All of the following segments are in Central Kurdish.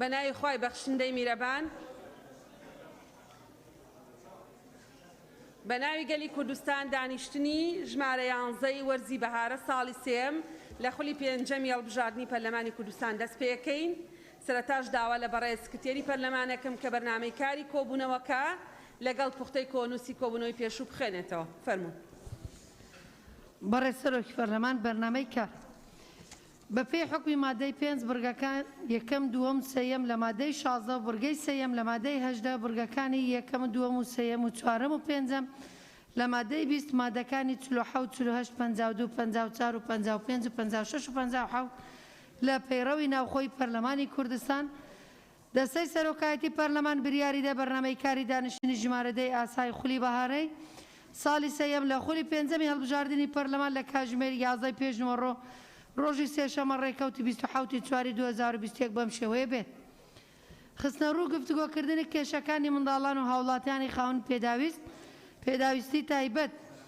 بە ناوی خوای بەخشندەی میرەبان بە ناوی گەلی کوردستان دانیشتنی ژمارە یانزەی وەرزی بەهارە ساڵی سێم لە خولی پێنجەمی هەڵبژاردنی پەرلەمانی کوردستان دەست پێکەین سەرەتاش داوا لە بەڕێز سکرتێری پەرلەمانەکەم کە بەرنامەی کاری کۆبوونەوەکە لەگەڵ پوختەی کۆنووسی کۆبوونەوەی پێشوو بخوێنێتەوە فەرموون بەڕێز سەرۆکی پەرلەمان بەرنامەی کار بەپێی حوکمی مادەی پێنج بڕگەکان یەکەم دووەم سێیەم لە مادەی شازدە و بڕگەی سێیەم لە مادەی هەژدە بڕگەکانی یەکەم و دووەم و سێیەم و چوارەم و پێنجەم لە مادەی بیست مادەکانی چل و حەوت چل و هەشت پەنجا و دوو پەنجا و چوار و پەنجا و پێنج و پەنجا و شەش و پەنجا و حەوت لە پەیڕەوی ناوخۆی پەرلەمانی کوردستان دەستەی سەرۆکایەتی پەرلەمان بریاریدا بەرنامەی کاری دانیشتنی ژمارە دەی ئاسای خولی بەهارەی ساڵی سێیەم لە خولی پێنجەمی هەڵبژاردنی پەرلەمان لە کاژمێر یازدە ی پێشنووەڕۆ ڕۆژی سێشەممە ڕێکەوتی بیست و حەوت ی چواری دوو هەزار و بیست و یەک بەم شێوەیە بێت. خستنەڕوو گفتوگۆکردنی کێشەکانی منداڵان و هاوڵاتیانی خاوەن پێداویست پێداویستی تایبەت.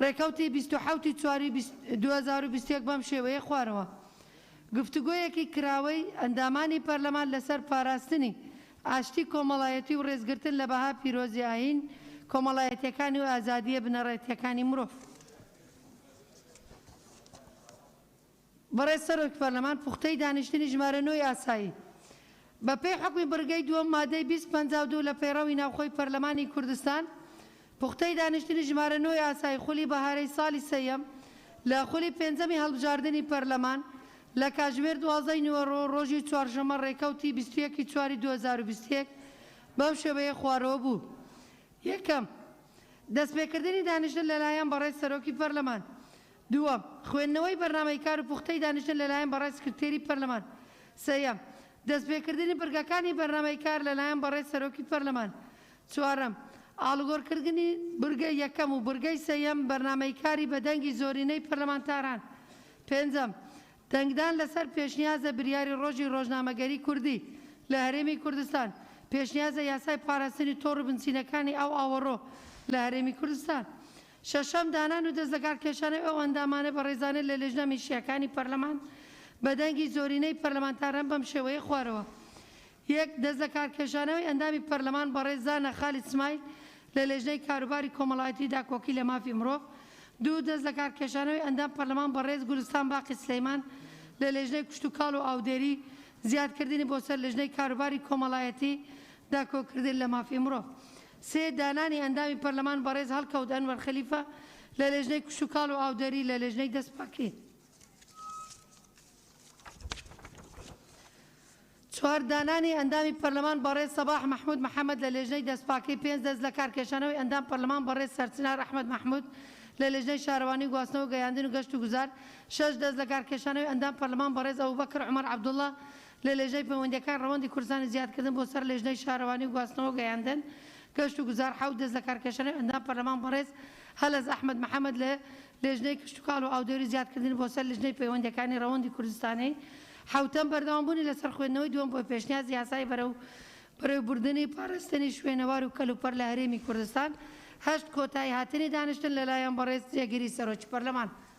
ڕێکەوتی بیست و حەوت ی چوار ی دوو هەزار و بیست و یەک بەم شێوەیەی خوارەوە گفتوگۆیەکی کراوەی ئەندامانی پەرلەمان لەسەر پاراستنی ئاشتی کۆمەڵایەتی و ڕێزگرتن لە بەها پیرۆزی ئایین کۆمەڵایەتیەکانی و ئازادییە بنەڕەتییەکانی مرۆڤ بەڕێز سەرۆک پەرلەمان پوختەی دانیشتنی ژمارە نۆی ئاسایی بە پێی حوکمی بڕگەی دووەم مادەی بیست پەنجا و دوو لە پەیڕەوی ناوخۆی پەرلەمانی کوردستان پوختەی دانیشتنی ژمارە نۆی ئاسایی خولی بەهارەی ساڵی سێیەم لە خولی پێنجەمی هەڵبژاردنی پەرلەمان لە کاتژمێر دوازدە ی نیوەڕۆ ڕۆژی چوارشەممە ڕێکەوتی بیست و یەک ی چواری دوو هەزار و بیست و یەک بەم شێوەیە خوارەوە بوو یەکەم دەستپێکردنی دانیشتن لەلایەن بەڕێز سەرۆکی پەرلەمان دووەم، خوێندنەوەی بەرنامەی کار و پوختەی دانیشتن لەلایەن بەڕێز سکرتێری پەرلەمان. سێیەم، دەستپێکردنی بڕگەکانی بەرنامەی کار لەلایەن بەڕێز سەرۆکی پەرلەمان. چوارەم، ئاڵوگۆڕکردنی بڕگەی یەکەم و بڕگەی سێیەم بەرنامەی کاری بە دەنگی زۆرینەی پەرلەمانتاران. پێنجەم، دەنگدان لەسەر پێشنیازە بریاری ڕۆژی ڕۆژنامەگەری کوردی لە هەرێمی کوردستان، پێشنیازە یاسای پاراستنی تۆڕ و بنچینەکانی ئاو ئاوەڕۆ لە هەرێمی کوردستان. شەشەم، دانان و دەست لەکار کێشانەوەی ئەو ئەندامانە بەڕێزانە لە لێژنە میشییەکانی پەرلەمان بە دەنگی زۆرینەی پەرلەمانتاران بەم شێوەیەی خوارەوە، یەک، دەست لەکار کێشانەوەی ئەندامی پەرلەمان بەڕێز زانا خالید سمایل لە لێژنەی کاروباری کۆمەڵایەتی و داکۆکی لە مافی مرۆڤ، دوو، دەست لەکار کێشانەوەی ئەندام پەرلەمان بەڕێز گولستان باقی سلەیمان لە لێژنەی کشتوکاڵ و ئاودێری زیادکردنی بۆ سەر لێژنەی کاروباری کۆمەڵایەتی داکۆکردن لە مافی مرۆڤ. سێ، دانانی ئەندامی پەرلەمان بەڕێز هەڵکەوت ئەنوەر خەلیفە لە لێژنەی کشتوکاڵ و ئاودەری لە لێژنەی دەستپاکی. چوار، دانانی ئەندامی پەرلەمان بەڕێز سەباح مەحمود محەمەد لە لێژنەی دەستپاکی. پێنج، دەستلەکارکێشانەوەی ئەندام پەرلەمان بەڕێز سەرچنار ئەحمەد مەحمود لە لێژنەی شارەوانی و گواستنەوە گەیاندن و گەشت و گوزار. شەش، دەستلەکارکێشانەوەی ئەندام پەرلەمان بەڕێز ئەبوبەکر عومەر عەبدوڵا لە لێژنەی پەیوەندییەکان ڕەوەندی کوردستانی زیادکردن بۆ سەر لێژنەی شارەوانی و گواستنەوە و گەیاندن، گەشت و گوزار حەوت دەستلەکارکێشانەوەی ئەندام پەرلەمان بەڕێز هەلەز ئەحمەد محەمەد لە لێژنەی کشتوکاڵ و ئاودەوری زیادکردنی بۆ سەر لژنەی پەیوەندییەکانی ڕەوەندی کوردستانی حەوتەم، بەردەوامبوونی لەسەر خوێندنەوەی دووەم بۆ پێشنیاز یاسای بەرەو بەرەو بردنی پاراستنی شوێنەوار و کەلوپەل لە هەرێمی کوردستان هەشت کۆتاییهاتنی دانیشتن لەلایەن بەڕێز جێگری سەرۆکی پەرلەمان.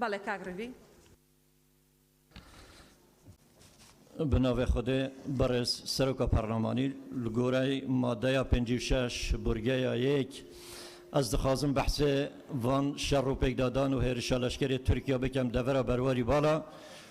بەڵێ کاک ڕەوی. بناڤێ خودێ بەڕێز سەرۆکە پەڕلەمانی گۆرای مادەیا پێنج و شەش بورگەیا یەک ئەز دخوازم بەحسێ ڤان شەڕ و پێکدادان و هێرشە لەشکرێ تورکیا بکەم دەڤەرا بەرواری باڵا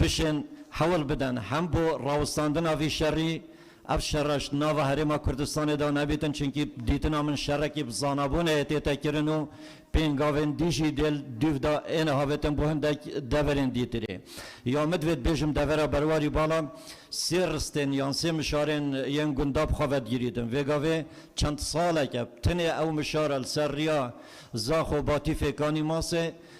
بشێن حەول بدەن هەم بۆ ڕاوستاندن ئەڤ شەڕی، ئەڤ شەڕەش ناڤ هەرێما کوردستانێ دا نەبیتن چونکی دیتنا من شەڕەکی ڤ زانابوون ئێتێتە کرن و پێنگاڤێن دیژی دێل دویڤ دا ئێنە هاڤێتن بۆ هندەک دەڤەرێن دیترێ یا من دڤێت بێژم دەڤەرا بەرواریو باڵا سێ ڕستێن یان سێ مشارێن یێن گونداڤ خۆ ڤەدگیریتن ڤێگاڤێ چەند ساڵەکە تنێ ئەو مشارە لە سەر ڕیا زاخ و باتی فێکانی ماسێ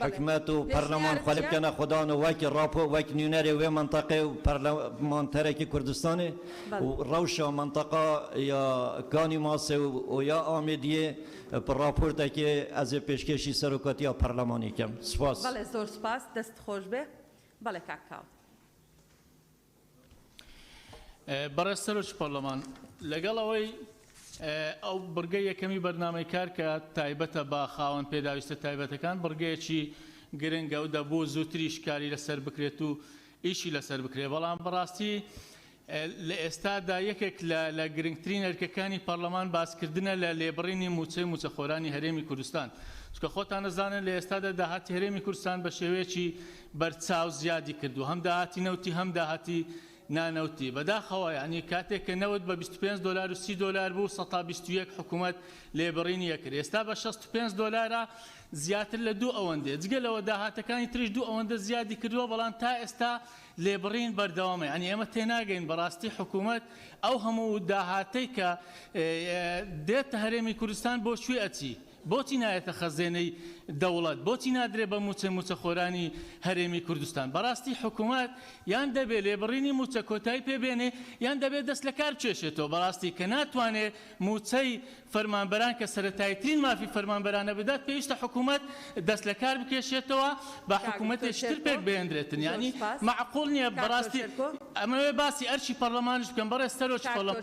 حکومەت و پەرلەمان خۆلی بکەنە خودان و وەک ڕاپۆ وەک نوینەرێ وێ مەنتەقێ و پەرلە مانتەرێکی کوردستانێ و ڕەوشە مەنتەقا یا کانی ماسێ و و یا ئامێدیێ پە ڕاپۆرتەکێ ئەزێ پێشکێشی سەرۆکاتیا پەرلەمانی کەم. سوپاس. بەڵێ زۆر سوپاس دەست خۆش بێ بەڵێ کاک کاوە. بەڕێز سەرۆکی پەرلەمان، لەگەڵ ئەوەی ئەو بڕگەی یەکەمی بەرنامەی کار کە تایبەتە بە خاوەن پێداویستە تایبەتەکان بڕگەیەکی گرنگە و دەبوو زووتریش کاری لەسەر بکرێت و ئیشی لەسەر بکرێت، بەڵام بەڕاستی لە ئێستادا یەکێک لە گرنگترین ئەرکەکانی پەرلەمان باسکردنە لە لێبڕینی مووچەی مووچەخۆرانی هەرێمی کوردستان، چونکە خۆتان ئەزانن لە ئێستادا داهاتی هەرێمی کوردستان بە شێوەیەکی بەرچاو زیادی کردووە هەم داهاتی نەوتی هەم داهاتی نانەوتی بەداخەوە یانی کاتێک کە نەوت بە بیست و پێنج دۆلار و سی دۆلار بوو سەد تا بیست و یەک حکوومەت لێبڕینی ئەکرد ئێستا بە شەست و پێنج دۆلارە زیاتر لە دوو ئەوەندێ جگە لەوە داهاتەکانی تریش دوو ئەوەندە زیادی کردووە بەڵام تا ئێستا لێبڕین بەردەوامە یانی ئێمە تێناگەین بەڕاستی حکوومەت ئەو هەموو داهاتەی کە دێتە هەرێمی کوردستان بۆ کوێ ئەچی بۆچی نایەتە خەزێنەی دەوڵەت؟ بۆچی نادرێت بە مووچەی مووچەخۆرانی هەرێمی کوردستان؟ بەڕاستی حکومەت یان دەبێت لێبڕینی مووچە کۆتایی پێ بێنێت یان دەبێت دەست لە کار بکێشێتەوە، بەڕاستی کە ناتوانێت مووچەی فەرمانبەران کە سەرەتاییترین مافی فەرمانبەرانە بدات پێویستە حکومەت دەست لە کار بکێشێتەوە با حکومەتێکی تر پێک بهێندرێتن یانی مەعقول نییە بەڕاستی ئەمەوێت باسی ئەرکی پەڕڵەمانیش بکەم بەڕێز سەرۆکی پەڕڵەمانە.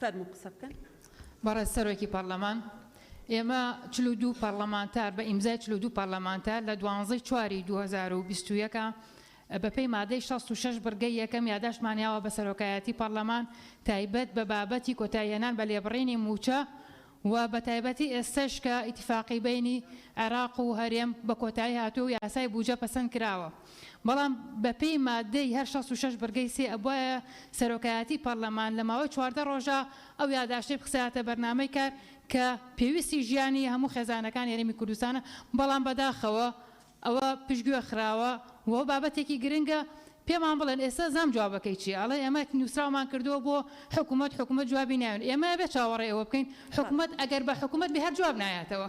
فەرموو قسە بکەن. بەڕێز سەرۆکی پەرلەمان، ئێمە چل و دوو پەرلەمانتار بە ئیمزای چل و دوو پەرلەمانتار لە دوانزەی چواری دوو هەزار و بیست و یەک بە پێی مادەی شەست و شەش بڕگەی یەکەم یاداشتمان یاوە بە سەرۆکایەتی پەرلەمان تایبەت بە بابەتی کۆتاییهێنان بە لێبڕینی مووچە و بەتایبەتی ئێستەش کە ئیتیفاقی بەینی عێراق و هەرێم بە کۆتایی هاتووە و یاسای بوجە پەسەند کراوە بەڵام بە پێی ماددەی هەر شەست و شەش بڕگەی سێ ئەبوایە سەرۆکایەتی پەرلەمان لە ماوەی چواردە ڕۆژا ئەو یاداشتەی بخسایەتە بەرنامەی کار کە پێویستی ژیانی هەموو خێزانەکانی هەرێمی کوردستانە بەڵام بەداخەوە ئەوە پشتگوێ خراوە و بابەتێکی گرنگە، پێمان بڵێن ئێستا زام جوابەکەی چیە؟ ئەڵێ ئێمە نوسراومان کردووە بۆ حکومەت، حکومەت جوابی نایەن، ئێمە ئەبێ چاوەڕێی ئەوە بکەین حکومەت ئەگەر بە حکومەت بێ هەر جواب نایاتەوە،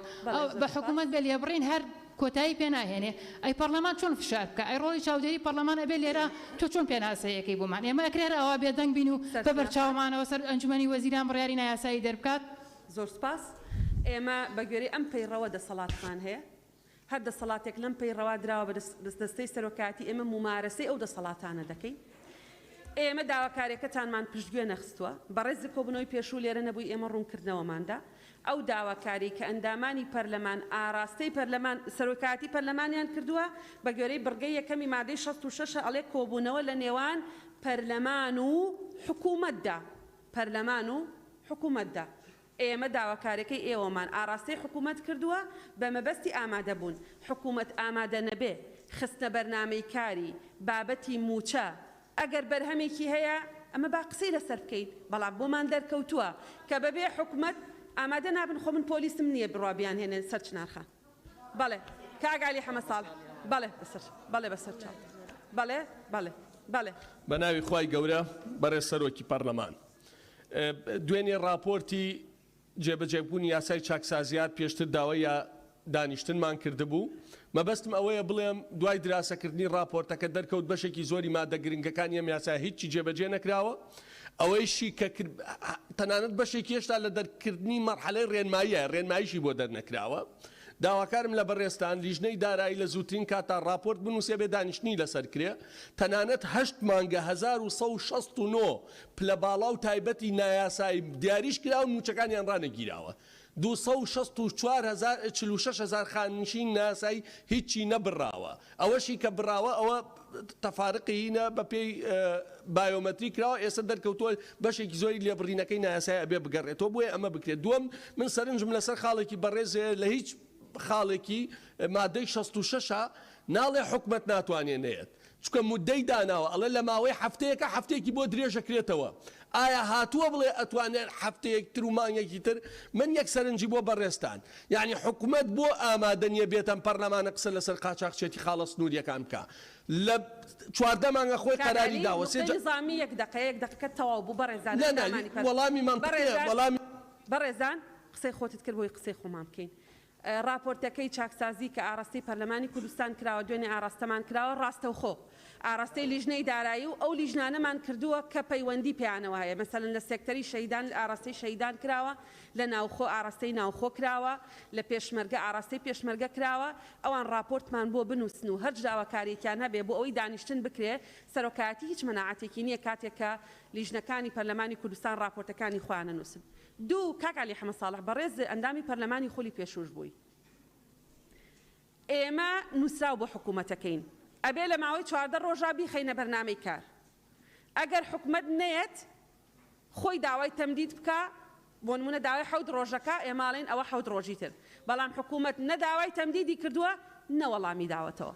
بە حکومەت بێ لێبڕین هەر کۆتایی پێ ناهێنێ، ئەی پەڕلەمان چۆن فشار بکا؟ ئەی ڕۆڵی چاودێری پەڕلەمان ئەبێ لێرە تۆ چۆن پێناسەی ئەکەی بۆمان؟ ئێمە ئەکرێ هەر ئاوا بێدەنگ بین و بە بەرچاومانەوە سەر ئەنجومەنی وەزیران بڕیاری نایاسایی دەربکات؟ زۆر سوپاس، ئێمە بە گوێرەی ئەم پەیڕەوە دەسەڵاتمان هەیە، هەر دەسەڵاتێک لەم پەی ڕەوا دراوە بە دەستەی سەرۆکایەتی ئێمە مومارەسەی ئەو دەسەڵاتانە دەکەین. ئێمە داواکاریەکەتانمان پشتگوێ نەخستوە. بەڕێز لە کۆبونەوەی پێشوو لێرە نەبووی ئێمە ڕونکردنەوەماندا ئەو داواکاریەی کە ئەندامانی پەرلەمان ئاراستەی پەرلەمان سەرۆکایەتی پەرلەمانیان کردوە بە گوێرەی بڕگەی یەکەمی مادەی شەست و شەش ئەڵێ کۆبونەوە لە نێوان پەرلەمان و حکومەتدا پەرلەمان و حکومەتدا ئێمە داواکاریەکەی ئێوەمان ئاڕاستەی حکومەت کردووە بە مەبەستی ئامادەبوون، حکومەت ئامادە نەبێ خستنە بەرنامەی کاری بابەتی مووچە، ئەگەر بەرهەمێکی هەیە ئەمە با قسەی لەسەر بکەین، بەڵام بۆمان دەرکەوتووە کە بەبێ حکومەت ئامادە نابن، خۆ من پۆلیسم نییە بڕوا بیانهێنێ سەر چنارخان بەڵێ کاک عەلی حەمە ساڵح بەڵێ بەسەر بەڵێ بەسەر چاو بەڵێ بەڵێ بەڵێ. بەناوی خوای گەورە بەڕێز سەرۆکی پەڕلەمان. دوێنێ ڕاپۆرتی جێبەجێبوونی یاسای چاکسازیات پێشتر داوای یا دانیشتنمان کردبوو. مەبەستم ئەوەیە بڵێم دوای دراسەکردنی ڕاپۆرتەکە دەرکەوت بەشێکی زۆری مادە گرنگەکانی ئەم یاسایە هیچی جێبەجێ نەکراوە. ئەوەیشی کە کرد تەنانەت بەشێکی هێشتا لە دەرکردنی مەرحەلەی ڕێنماییە، ڕێنماییشی بۆ دەرنەکراوە. داواکارم لە بەڕێزتان لیژنەی دارایی لە زووترین کاتدا ڕاپۆرت بنووسێ بێ دانیشتنی لەسەر کرێ تەنانەت هەشت مانگە هەزار و سەد و شەست و نۆ پلە باڵا و تایبەتی نایاسایی دیاریش کراون مووچەکانیان ڕانەگیراوە دوو سەد و شەست و چوار هەزار چل و شەش هەزار خانەنشینی نایاسایی هیچی نەبڕاوە ئەوەشی کە بڕاوە ئەوە تەفارقیینە بەپێی بایۆمەتری کراوە ئێستا دەرکەوتووە بەشێکی زۆری لێبڕینەکەی نایاسایی ئەبێ بگەڕێتەوە بۆیە ئەمە بکرێت دووەم من سەرنجم لەسەر خاڵێکی بەڕێز هەیە لە هیچ خاڵێکی مادەی شەست و شەش ناڵێ حکومەت ناتوانێ نەیەت چونکە مودەی داناوە ئەڵێ لەماوەی هەفتەیەکە هەفتەیەکی بۆ درێژەکرێتەوە ئایا هاتووە بڵێ ئەتوانێت هەفتەیەک تر و مانگێکی تر من یەک سەرنجی بۆ بەڕێزتان یانی حکومەت بۆ ئامادە نیە بێتەم پەرلەمانە قسە لەسەر قاچاخچێتی خاڵە سنوریەکان بکا لە چواردە مانگە خۆی قەراری داوە سێ جار نا نا وەڵامی مەنتقیە وەڵامی. بەڕێزان قسەی خۆتت کرد بۆی قسەی خۆمان بکەین ڕاپۆرتەکەی چاکسازی کە ئاڕاستەی پەرلەمانی کوردستان کراوە، دوێنێ ئاڕاستەمان کراوە، ڕاستەوخۆ ئاڕاستەی لیژنەی دارایی و ئەو لیژنانەمان کردووە کە پەیوەندی پێیانەوە هەیە، مەسەلەن لە سێکتەری شەهیدان ئاڕاستەی شەهیدان کراوە، لە ناوخۆ ئاڕاستەی ناوخۆ کراوە، لە پێشمەرگە ئاڕاستەی پێشمەرگە کراوە، ئەوان ڕاپۆرتمان بۆ بنووسن و هەر جاوەکارییەکیان هەبێ بۆ ئەوەی دانیشتن بکرێ، سەرۆکایەتی هیچ مەناعەتێکی نییە کاتێک کە لیژنەکانی پەرلەمانی کوردستان ڕاپۆرتەکانی خۆیان نەنووسن. دوو، کاک عەلی حەمە ساڵح بەڕێز ئەندامی پەرلەمانی خولی پێشووش بووی. ئێمە نووسراو بۆ حکوومەتەکەین. ئەبێ لە ماوەی چواردە ڕۆژا بیخەینە بەرنامەی کار. ئەگەر حکومەت نەیەت خۆی داوای تەمدید بکا، بۆنموونە داوای حەوت ڕۆژە کا، ئێمە ئەڵێین ئەوە حەوت ڕۆژی تر. بەڵام حکوومەت نە داوای تەمدیدی کردووە، نە وەڵامی داوەتەوە.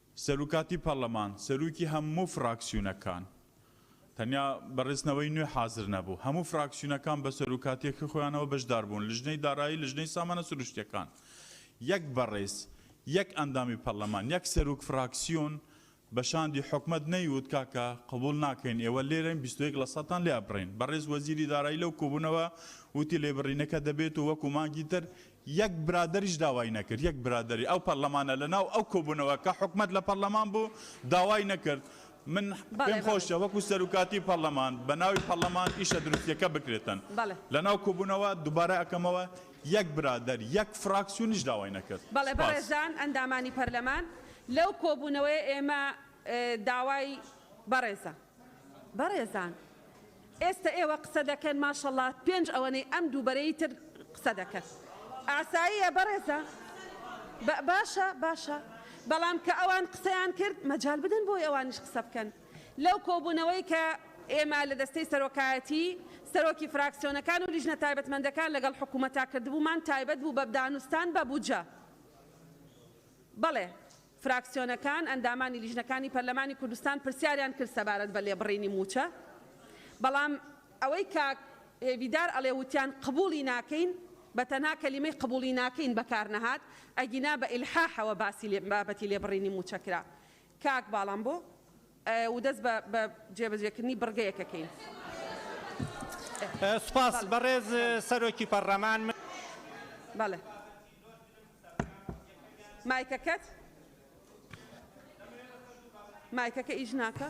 سەروکاتی پەرلەمان سەروکی هەموو فراکسیونەکان تەنیا بە رێزنەوەی نوێ حازر نەبوو هەموو فراکسیونەکان بە سەروکاتیەکی خۆیانەوە بەشدار بوون لژنەی دارایی لژنەی سامانە سروشتیەکان یەک بەڕێز یەک ئەندامی پەرلەمان یەک سەروک فراکسیون بە شاندی حکومەت نەیوت کاکە قبوڵ ناکەین ئێوە لێرەن بیست و یەک لە سەتان لێ ئەبڕین بەڕێز وەزیری دارایی لەو کۆبونەوە وتی لێبڕینەکە دەبێت و وەکو مانگی تر یەک برادەریش داوای نەکرد، یەک برادەری ئەو پەرلەمانە لە ناو ئەو کۆبوونەوە کە حکومەت لە پەرلەمان بوو داوای نەکرد. من پێم خۆشە وەکو سەروکاتی پەرلەمان بە ناوی پەرلەمان ئیشە دروستیەکە بکرێتن. لە ناو کۆبوونەوە دوبارە ئەکەمەوە یەک برادەر، یەک فراکسیونیش داوای نەکرد. بەڵێ بەڕێزان ئەندامانی پەرلەمان لەو کۆبوونەوەیە ئێمە داوای بەڕێزان. بەڕێزان. ئێستە ئێوە قسە دەکەن ماشەڵا پێنج ئەوەنەی ئەم دوو بەرەی تر قسە دەکەن ئاساییە بەڕێزە باشە باشە بەڵام کە ئەوان قسەیان کرد مەجال بدەن بۆی ئەوانیش قسە بکەن لەو کۆبوونەوەی کە ئێمە لە دەستەی سەرۆکایەتی سەرۆکی فراکسیۆنەکان و لیژنە تایبەتمەندەکان لەگەڵ حکوومەتا کردبوومان تایبەت بوو بە دانوستان بە بودجە بەڵێ فراکسیۆنەکان، ئەندامانی لیژنەکانی پەرلەمانی کوردستان پرسیاریان کرد سەبارەت بە لێبڕینی مووچە، بەڵام ئەوەی کاک هێڤیدار ئەڵێ وتیان قبووڵی ناکەین، بە تەنها کەلیمەی قبووڵی ناکەین بەکار نەهات، ئەگینا بە ئیلحاحەوە باسی بابەتی لێبڕینی مووچە کرا. کاک باڵام بۆ؟ و دەست بە جێبەجێکردنی بڕگەیەک ئەکەین. سپاس بەڕێز سەرۆکی پەڕڵەمان. من بابەتی لۆترم مایکەکەت مایکەکە ئیش ناکا.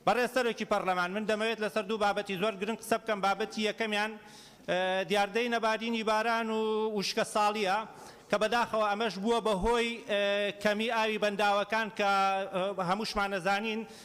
بەڕێز سەرۆکی پەڕلەمان من دەمەوێت لەسەر دوو بابەتی زۆر گرنگ قسە بکەم بابەتی یەکەمیان دیاردەی نەبارینی باران و وشکە ساڵیە کە بەداخەوە ئەمەش بووە بە هۆی کەمی ئاوی بەنداوەکان کە هەمووشمانەزانین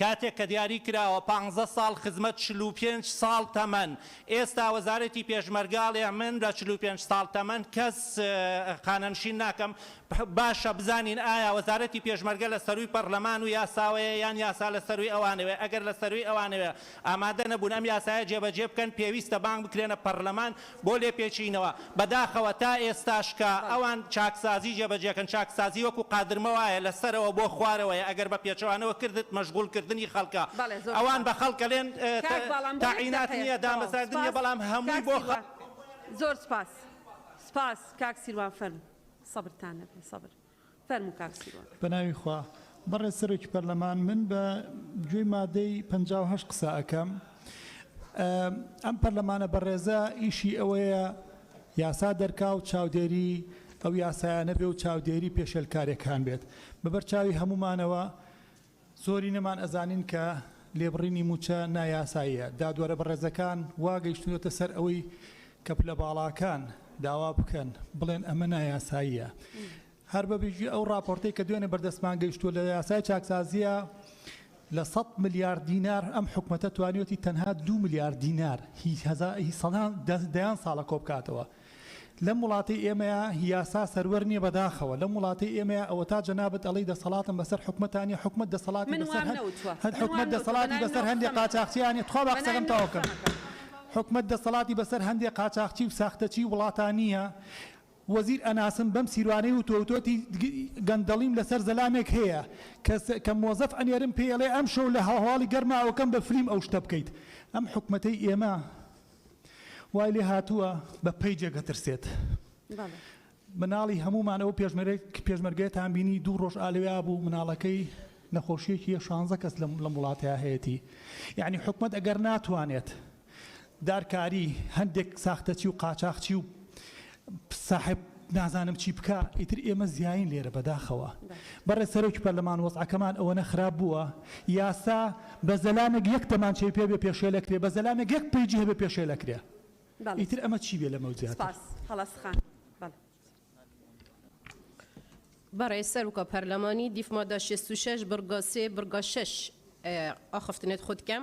کاتێک کە دیاری کراوە پانزە ساڵ خزمەت چل و پێنج ساڵ تەمەن ئێستا وەزارەتی پێشمەرگە ئەڵێ من لە چل و پێنج ساڵ تەمەن کەس خانەنشین ناکەم باشە بزانین ئایا وەزارەتی پێشمەرگە لە سەروی پەڕلەمان و یاساوەیە یان یاسا لە سەروی ئەوانەوەیە ئەگەر لە سەروی ئەوانەوەیە ئامادە نەبوون ئەم یاسایە جێبەجێ بکەن پێویستە بانگ بکرێنە پەڕلەمان بۆ لێپێچینەوە، بەداخەوە تا ئێستاش کە ئەوان چاکسازی جێبەجێکەن، چاکسازی وەکو قادرمە وایە لە سەرەوە بۆ خوارەوەیە، ئەگەر بە پێچەوانەوە کردت مەشغول کردنی خەڵکە، ئەوان بە خەڵک ئەلێن تەعینات نیە، دامەزراندن نیە، بەڵام هەمووی بۆ خەڵکە. زۆر سوپاس سوپاس کاک سیروان فەرموو سەبرتان هەبێ سەبر. فەرموو کاک سیروان. بەناوی خوا. بەڕێز سەرۆکی پەرلەمان من بە گوێی مادەی پەنجا و هەشت قسە ئەکەم. ئەم پەرلەمانە بەڕێزە ئیشی ئەوەیە یاسا دەرکا و چاودێری ئەو یاسایانە بێ و چاودێری پێشێلکارێکان بێت. بەبەرچاوی هەموومانەوە زۆرینەمان ئەزانین کە لێبڕینی مووچە نایاساییە، دادوەرە بەڕێزەکان وا گەیشتوونەتە سەر ئەوەی کە پلە باڵاکان داوا بکەن بڵێن ئەمە نایاساییە. هەر بە بیژوی ئەو ڕاپۆرتەی کە دوێنێ بەردەستمان گەیشتووە لە یاسای چاکسازییە لە سەد ملیار دینار ئەم حکومەتە توانیوەتی تەنها دوو ملیار دینار هی هەزا هی سەدان دەیان ساڵە کۆ بکاتەوە. لەم وڵاتەی ئێمەیا یاسا سەروەر نیە بەداخەوە لەم وڵاتەی ئێمەیا ئەوەتا جەنابت ئەڵێی دەسەڵاتم بەسەر حکومەتا نیە حکومەت دەسەڵاتی من وام بەسەر نەوتوە هەر من حکومەت وام نەوتوە دەسەڵاتی بەناوی بەسەر نۆ هەندێ قسەمە کە قاچاخچیان نیە تخوا با بەناوی قسەکەم نۆ تەواو کەم قسەمە کە حکومەت دەسەڵاتی بەسەر هەندێ قاچاخچی و ساختەچی وڵاتا نیە وەزیر ئەناسم بەم سیروانەی وتوە وتۆتی گەندەڵیم لەسەر زەلامێک هەیە کە سە کە مۆزەف ئەنێرم پێی ئەڵێ ئەمشەو لە هەواڵی گەرماوەکەم بە فلیم ئەو شتە بکەیت ئەم حکومەتەی ئێمە وای لێ هاتووە بە پەیجێک ئەترسێت. مناڵی هەموومان ئەو پێشمەرگەتان بینی دوو ڕۆژ ئالوێا بوو مناڵەکەی نەخۆشیەکی یە شانزە کەس لە وڵاتەیە هەیەی یعنی حکومت ئەگەر ناتوانێت دارکاری هەندێک ساختەچی و قاچاخچی و ساحێب نازانم چی بکا ئیتر ئێمە زیاین لێرە بەداخەوە بەڕێز سەرۆکی پەرلەمان وەزعەکەمان ئەوەنە خراپ بووە یاسا بە زەلامێک یەک دەمانچەی پێ بێ پێشێلەکرێ بە زەلامێک یەک پەیجی هەبێ پێشێلەکرێ ئیتر ئەمە چی بێ لەمە زیاتر بەڕێز سەرۆکە پەرلەمانی دیف مادە 66 بڕگە سێ بڕگە شەش ئاخفتنێت خودکەم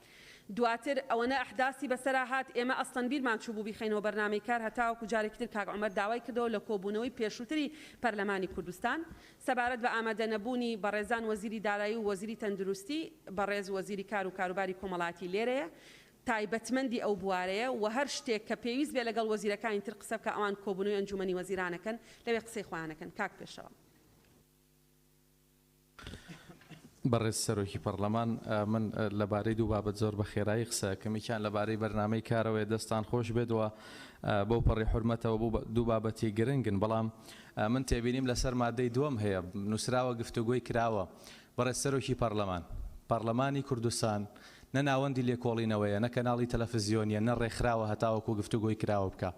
دواتر ئەوەنە ئەحداسی بەسەرا هات ئێمە ئەسڵەن بیرمان چووبوو بیخەینەوە بەرنامەی کار هەتاوەکو جارێکی تر کاک عومەر داوای کردەوە لە کۆبوونەوەی پێشووتری پەرلەمانی کوردستان سەبارەت بە ئامادەنەبوونی بەڕێزان وەزیری دارایی و وەزیری تەندروستی بەڕێز وەزیری کار و کاروباری کۆمەڵایەتی لێرەیە تایبەتمەندی ئەو بوارەیە و هەر شتێک کە پێویست بێت لەگەڵ وەزیرەکانی تر قسە بکە ئەوان کۆبوونەوەی ئەنجوومەنی وەزیرانەکەن لەوێ قسەی خۆیان ئەکەن کاک پێشەوا. بەڕێز سەرۆکی پەڕلەمان من لەبارەی دوو بابەت زۆر بە خێرایی قسە ئەکەم یەکیان لەبارەی بەرنامەی کارەوەیە دەستان خۆش بێت و بەو پەڕی حورمەتەوە بوو دوو بابەتی گرنگن بەڵام من تێبینیم لەسەر مادەی دووەم هەیە نووسراوە گفتوگۆی کراوە بەڕێز سەرۆکی پەڕلەمان پەڕلەمانی کوردستان نە ناوەندی لێکۆڵینەوەیە نە کەناڵی تەلەفزیۆنیە نە ڕێکخراوە هەتاوەکو گفتوگۆی کراوە بکا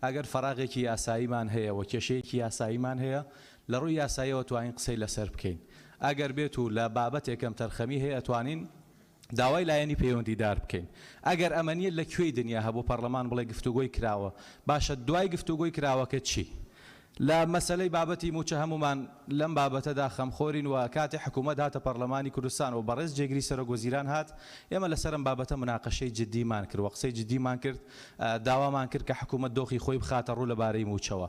ئەگەر فەراغێکی یاساییمان هەیە و کێشەیەکی یاساییمان هەیە لە ڕووی یاساییەوە توانین قسەی لەسەر بکەین. ئەگەر بێت و لە بابەتێک کەمتەرخەمی هەیە ئەتوانین داوای لایەنی پەیوەندیدار بکەین. ئەگەر ئەمە نییە لە کوێی دنیا هەبوو پەڕلەمان بڵێ گفتوگۆی کراوە؟ باشە دوای گفتوگۆی کراوەکە چی؟ لە مەسەلەی بابەتی مووچە هەموومان لەم بابەتەدا خەمخۆرین و کاتێ حکوومەت هاتە پەڕلەمانی کوردستان و بەڕێز جێگری سەرۆک وەزیران هات ئێمە لەسەر ئەم بابەتە مناقەشەی جدیمان کرد و قسەی جدیمان کرد داوامان کرد کە حکوومەت دۆخی خۆی بخاتە ڕوو لەبارەی مووچەوە.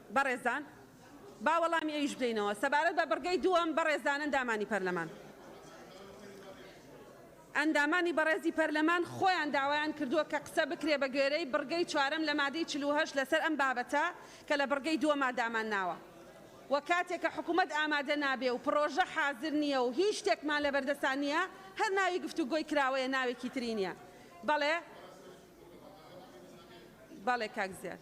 بەڕێزان، با وەڵامی ئەویش بدەینەوە. سەبارەت بە بڕگەی دووەم، بەڕێزان ئەندامانی پەرلەمان. ئەندامانی بەڕێزی پەرلەمان خۆیان داوایان کردووە کە قسە بکرێ بە گوێرەی بڕگەی چوارەم لە مادەی چل و هەشت لەسەر ئەم بابەتە کە لە بڕگەی دووەما دامان ناوە و کاتێک کە حکوومەت ئامادە نابێ و پڕۆژە حازر نییە و هیچ شتێکمان لە بەردەسان نییە هەر ناوی گفتوگۆی کراوەیە ناوێکی تری نییە. بەڵێ. بەڵێ کاک زیاد.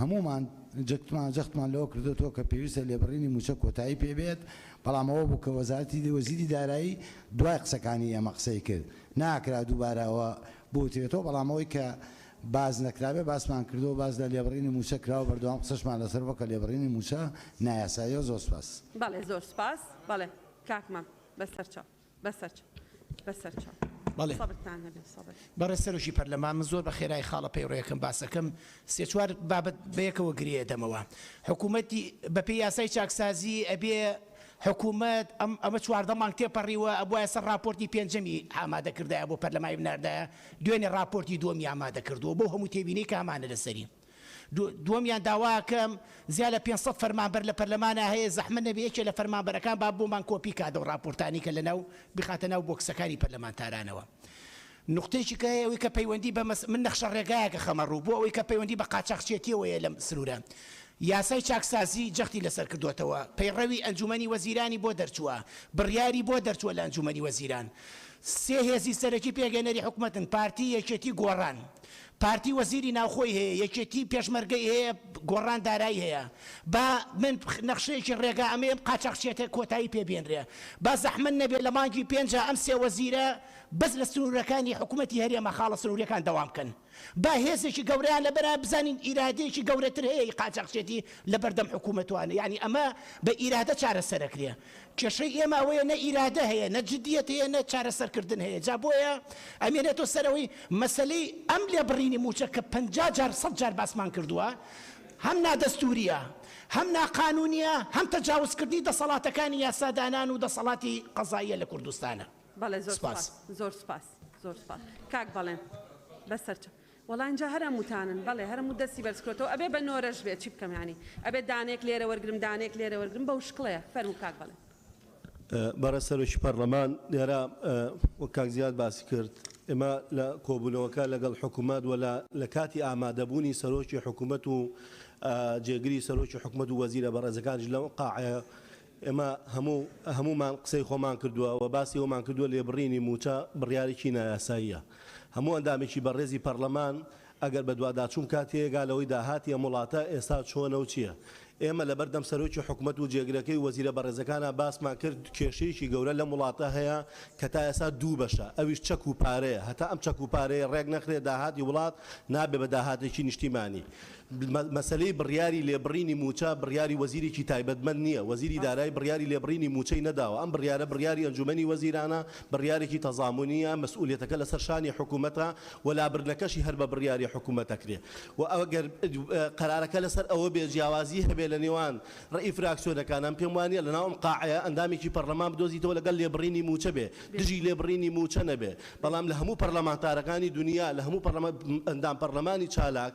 هەموومان جەختمان لەوە کردۆتەوە کە پێویستە لێبڕینی مووچە کۆتایی پێ بێت، بەڵام ئەوە بوو کە وەزارەتی وەزیری دارایی دوای قسەکانی ئێمە قسەی کرد، ناکرا دووبارە ئەوە بوترێتەوە، بەڵام ئەوەی کە باس نەکرابێت باسمان کردووە، باس لە لێبڕینی مووچە کراوە، بەردەوام قسەشمان لەسەر بووە کە لێبڕینی مووچە نایاساییە. زۆر سوپاس. بەڵێ زۆر سوپاس بەڵێ کاک مام بەسەرچاو. بەڕێز سەرۆکی پەرلەمان من زۆر بەخێرای خاڵە پەیڕەوەکەم باسەکەم سێ چوار بابەت بەیەکەوە گرێ ئەدەمەوە حکومەتی بەپێی یاسای چاکسازی ئەبێ حکومەت ئەم ئەمە چواردە مانگ تێپەڕیوە ئەبوایە سەر ڕاپۆرتی پێنجەمی ئامادە کردایە بۆ پەرلەمای بناردایە دوێنێ ڕاپۆرتی دووەمی ئامادە کردووە بۆ هەموو تێبینی کامانە لەسەری دووەمیان داواکەم زیاد لە پێنج سەد فەرمانبەر لە پەرلەمانا هەیە زەحمەت نەبێ یەکێ لە فەرمانبەرەکان با بۆمان کۆپی کات ئەو ڕاپۆرتانەی کە لەناو بخاتە ناو بۆکسەکانی پەرلەمانتارانەوە نوقتەیەکی کە هەیە ئەوەی کە پەیوەندی بە مەس من نەخشە ڕێگایەکە خەمە ڕوو بۆ ئەوەی کە پەیوەندی بە قاچاخچێتیەوە هەیە لەم سنوورە یاسای چاکسازی جەختی لەسەر کردووەتەوە پەیڕەوی ئەنجومەنی وەزیرانی بۆ دەرچووە بڕیاری بۆ دەرچووە لە ئەنجومەنی وەزیران سێ هێزی سەرەکی پێگەێنەری حکوومەتن پارتی یەکێتی گۆڕان پارتی وەزیری ناوخۆی هەیە یەکێتی پێشمەرگەی هەیە گۆڕان دارایی هەیە با من نەخشەیەکی ڕێگا ئەمەیەم قاچاخچێتە کۆتایی پێ بێنرێ با زەحمەت نەبێ لە مانگی پێنجا ئەم سێ وەزیرە بەس لە سنورەکانی حکومەتی هەرێمە خاڵە سنوریەکان دەوام بکەن با هێزێکی گەورەیان لە بەرە بزانین ئیرادەیەکی گەورەتر هەیە ئی قاچاخچێتی لە بەردەم حکومەتوانە یانی ئەمە بە ئیرادە چارەسەرەکرێ کێشەی ئێمە ئەوەیە نە ئیرادە هەیە نە جدیت هەیە نە چارەسەر کردن هەیە جا بۆیە ئەمێنێتەوە سەر ئەوەی مەسەلەی ئەم لێبڕینی مووچە کە پەنجا جار سەد جار باسمان کردووە هەم نادەستووریە هەم ناقانوونیە هەم تەجاوزکردنی دەسەڵاتەکانی یاسادانان و دەسەڵاتی قەزاییە لە کوردستانە. بەڵێ زۆر سوپاس. سپاس زۆر سوپاس زۆر سوپاس کاک بەڵێن بەسەرچە. وەڵا ئینجا هەر هەمووتانن. بەڵێ هەر هەموو دەستی بەرز کردۆتەوە ئەبێ بە نۆرەش بێت چی بکەم یانی ئەبێ دانەیەک لێرە وەرگرم دانەیەک لێرە وەرگرم بەو شکڵەیە فەرموو کاک بەڵێن. بەڕێز سەرۆکی پەڕلەمان لێرە وەک کاک زیاد باسی کرد ئێمە لە کۆبوونەوەکە لەگەڵ حکومەت وە لە لە کاتی ئامادەبوونی سەرۆکی حکومەت و جێگری سەرۆکی حکومەت و وەزیرە بەڕێزەکانیش لەم قاعەیە ئێمە هەموو هەموومان قسەی خۆمان کردووە و باسی ئەوەمان کردووە لێبڕینی مووچە بڕیارێکی نایاساییە. هەموو ئەندامێکی بەڕێزی پەڕلەمان ئەگەر بەدواداچوون بکات تێیەگا لەوەی داهاتی ئەم وڵاتە ئێستا چۆنە و چییە. ئێمە لەبەردەم سەرۆکی حکومەت و جێگرەکەی و وەزیرە بەڕێزەکانا باسمان کرد کێشەیەکی گەورە لەم وڵاتە هەیە کە تا ئێستا دوو بەشە ئەویش چەک و پارەیە هەتا ئەم چەک و پارەیە ڕێک نەخرێ داهاتی وڵات نابێ بە داهاتێکی نیشتیمانی. مەسەلەی بڕیاری لێبڕینی مووچە بڕیاری وەزیرێکی تایبەتمەند نییە، وەزیری دارایی بڕیاری لێبڕینی مووچەی نەداوە، ئەم بڕیارە بڕیاری ئەنجوومەنی وەزیرانە، بڕیارێکی تەزامونییە، مەسئوولیەتەکە لەسەر شانی حکوومەتە و لابردنەکەشی هەر بە بڕیاری حکوومەت دەکرێ و ئەگەر قەرارەکە لەسەر ئەوە بێ جیاوازی هەبێ لە نێوان ڕەئی فراکسیۆنەکان ئەم پێم وانییە لەناو ئەم قاعەیە ئەندامێکی پەڕلەمان بدۆزیتەوە لەگەڵ لێبڕینی مووچە بێ دژی لێبڕینی مووچە نەبێ بەڵام لە هەموو پەڕلەمانتارەکانی دونیا لە هەموو پەڕلەمان ئەندام پەڕلەمانی چالاک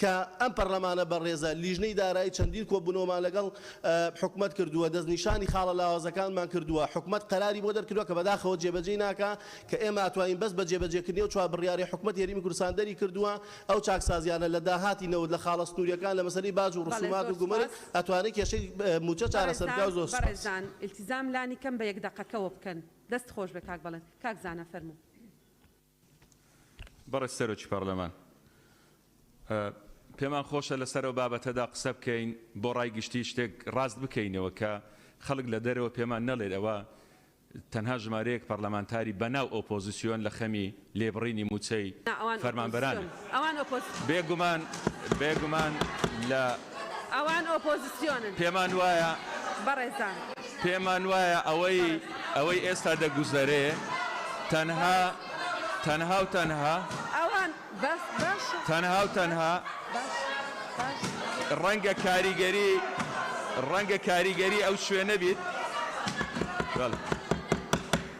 کە ئەم پەرلەمانە بەڕێزە لیژنەی دارایی چەندین کۆبوونەوەمان لەگەڵ حکومەت کردووە، دەستنیشانی خاڵە لاوازەکانمان کردووە، حکومەت قەراری بۆ دەرکردووە کە بەداخەوە جێبەجێی ناکا، کە ئێمە ئەتوانین بەس بە جێبەجێکردنی ئەو چوار بڕیارەی حکومەت هەرێمی کوردستان دەری کردووە، ئەو چاکسازیانە لە داهاتی نەوت، لە خاڵە سنوورییەکان، لە مەسەلەی باج و ڕسوومات و گومرگ ئەتوانێ کێشەی مووچە چارەسەر بکا و زۆر سوپاس. بەڕێزان ئیلتیزام لانی کەم بە یەک دەقەکەوە بکەن. دەست خۆش بێت کاک بەڵێن. کاک زانا فەرموو. بەڕێز سەرۆکی پەڕلەمان، پێمان خۆشە لەسەر ئەو بابەتەدا قسە بکەین، بۆ ڕای گشتی شتێک ڕاست بکەینەوە کە خەڵک لە دەرەوە پێمان نەڵێت ئەوە تەنها ژمارەیەک پەڕلەمانتاری بەناو ئۆپۆزسیۆن لە خەمی لێبڕینی مووچەی فەرمانبەرانن. ئەوان ئۆپۆزسیۆنن. بێگومان، بێگومان لە. ئەوان ئۆپۆزسیۆنن. پێمان وایە. بەڕێزان. پێمان وایە ئەوەی، ئەوەی ئێستا دەگوزەرێ تەنها، تەنها و تەنها. ئەوان، بەس، باشە. تەنها و تەنها. باشە، باشە. ڕەنگە کاریگەری، ڕەنگە کاریگەری ئەو شوێنە بیت. بەڵێ.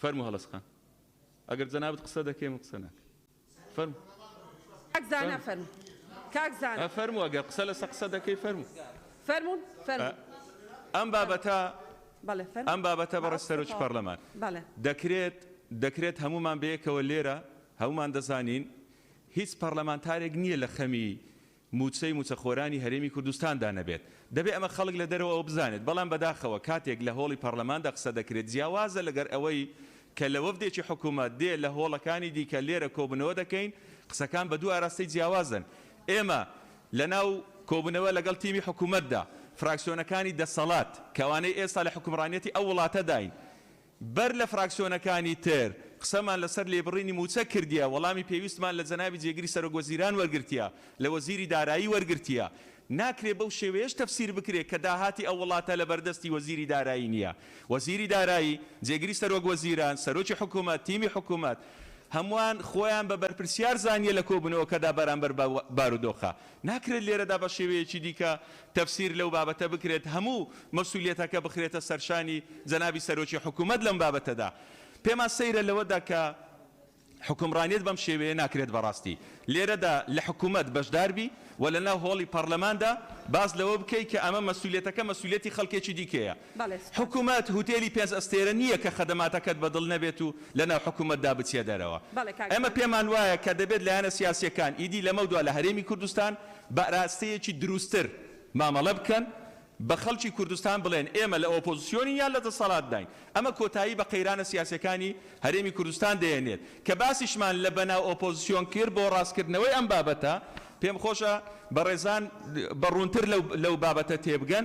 فەرموو هەڵەسخان ئەگەر جەنابت قسە دەکەی من قسە ناکەم فەرموو کاک زانا فەرموو کاک زانا فەرموو ئەگەر قسە لەسە قسە دەکەی فەرموو فەرموو فەرموو ئەم بابەتە ئەم بابەتە بەڕە سەرۆکی پەرلەمان دەکرێت دەکرێت هەمومان بەیەکەوە لێرە هەمومان دەزانین هیچ پەرلەمانتارێک نییە لە خەمی موچەی موچەخۆرانی هەرێمی کوردستاندا نەبێت. دەبێت ئەمە خەڵک لە دەرەوەوە بزانێت، بەڵام بەداخەوە کاتێک لە هۆڵی پەڕلەماندا قسە دەکرێت جیاوازە لەگەر ئەوەی کە لە وەفدێکی حکومەت دێ لە هۆڵەکانی دیکە لێرە کۆبونەوە دەکەین قسەکان بە دوو ئاراستەی جیاوازن ئێمە لە ناو کۆبونەوە لەگەڵ تیمی حکومەتدا فراکسیۆنەکانی دەسەڵات کە ئەوانەی ئێستا لە حکومڕانیەتی ئەو وڵاتەداین بەر لە فراکسیۆنەکانی تر قسەمان لەسەر لێبڕینی مووچە کردیە، وەڵامی پێویستمان لە جەنابی جێگری سەرۆک وەزیران وەرگرتیە، لە وەزیری دارایی وەرگرتیە. ناکرێ بەو شێوەیەش تەفسیر بکرێ کە داهاتی ئەو وڵاتە لەبەردەستی وەزیری دارایی نیە. وەزیری دارایی، جێگری سەرۆک وەزیران، سەرۆکی حکومەت، تیمی حکومەت هەمووان خۆیان بە بەرپرسیار زانیە لە کۆبوونەوەکەدا بەرامبەر بەو بارودۆخە. ناکرێت لێرەدا بە شێوەیەکی دیکە تەفسیر لەو بابەتە بکرێت هەموو مەسولیەتەکە بخرێتە سەرشانی جەنابی سەرۆکی حکومەت لەم بابەتەدا پێمان سەیرە لەوەدا کە حکومڕانیت بەم شێوەیە ناکرێت بەڕاستی لێرەدا لە حکومەت بەشداربی و لەناو هۆڵی پەرلەماندا باس لەوە بکەیت کە ئەمە مەسولیەتەکە مەسولیەتی خەڵکێکی دیکەیە بەڵێ سوپاس. حکومەت هوتێلی پێنج ئەستێرە نییە کە خەدەماتەکەت بە دڵ نەبێت و لە ناو حکومەتدا بچیە دەرەوە. بەڵێ کاک ئێمە ژیار. پێمان وایە کە دەبێت لایەنە سیاسییەکان ئیدی لەمەودوا لە هەرێمی کوردستان بە ئراستەیەکی دروستتر مامەڵە بکەن، بە خەڵکی کوردستان بڵێن ئێمە لە ئۆپۆزسیۆنین یان لە دەسەڵاتداین. ئەمە کۆتایی بە قەیرانە سیاسییەکانی هەرێمی کوردستان دەهێنێت کە باسیشمان لە بەناو ئۆپۆزسیۆن کرد بۆ ڕاستکردنەوەی ئەم بابەتە. پێمخۆشە بەڕێزان بە ڕوونتر لەو لەو بابەتە تێبگەن.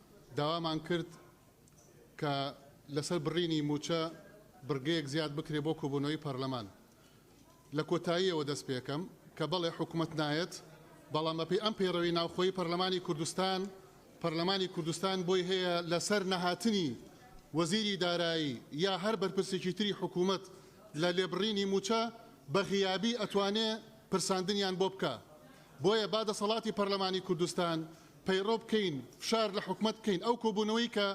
داوامان کرد کە لەسەر بڕینی مووچە بڕگەیەک زیاد بکرێت بۆ کۆبوونەوەی پەرلەمان لە کۆتاییەوە دەست پێکەم کە بەڵێ حکومەت نایەت بەڵام بەپێی ئەم پەیڕەوی ناوخۆی پەرلەمانی کوردستان پەرلەمانی کوردستان بۆی هەیە لەسەر نەهاتنی وەزیری دارایی یا هەر بەرپرسێکی تری حکومەت لە لێبڕینی مووچە بە غیابی ئەتوانێ پرساندنیان بۆ بکا بۆیە با دەسەڵاتی پەرلەمانی کوردستان پەیڕەو بکەین فشار لە حکومەت بکەین ئەو کۆبوونەوەی کە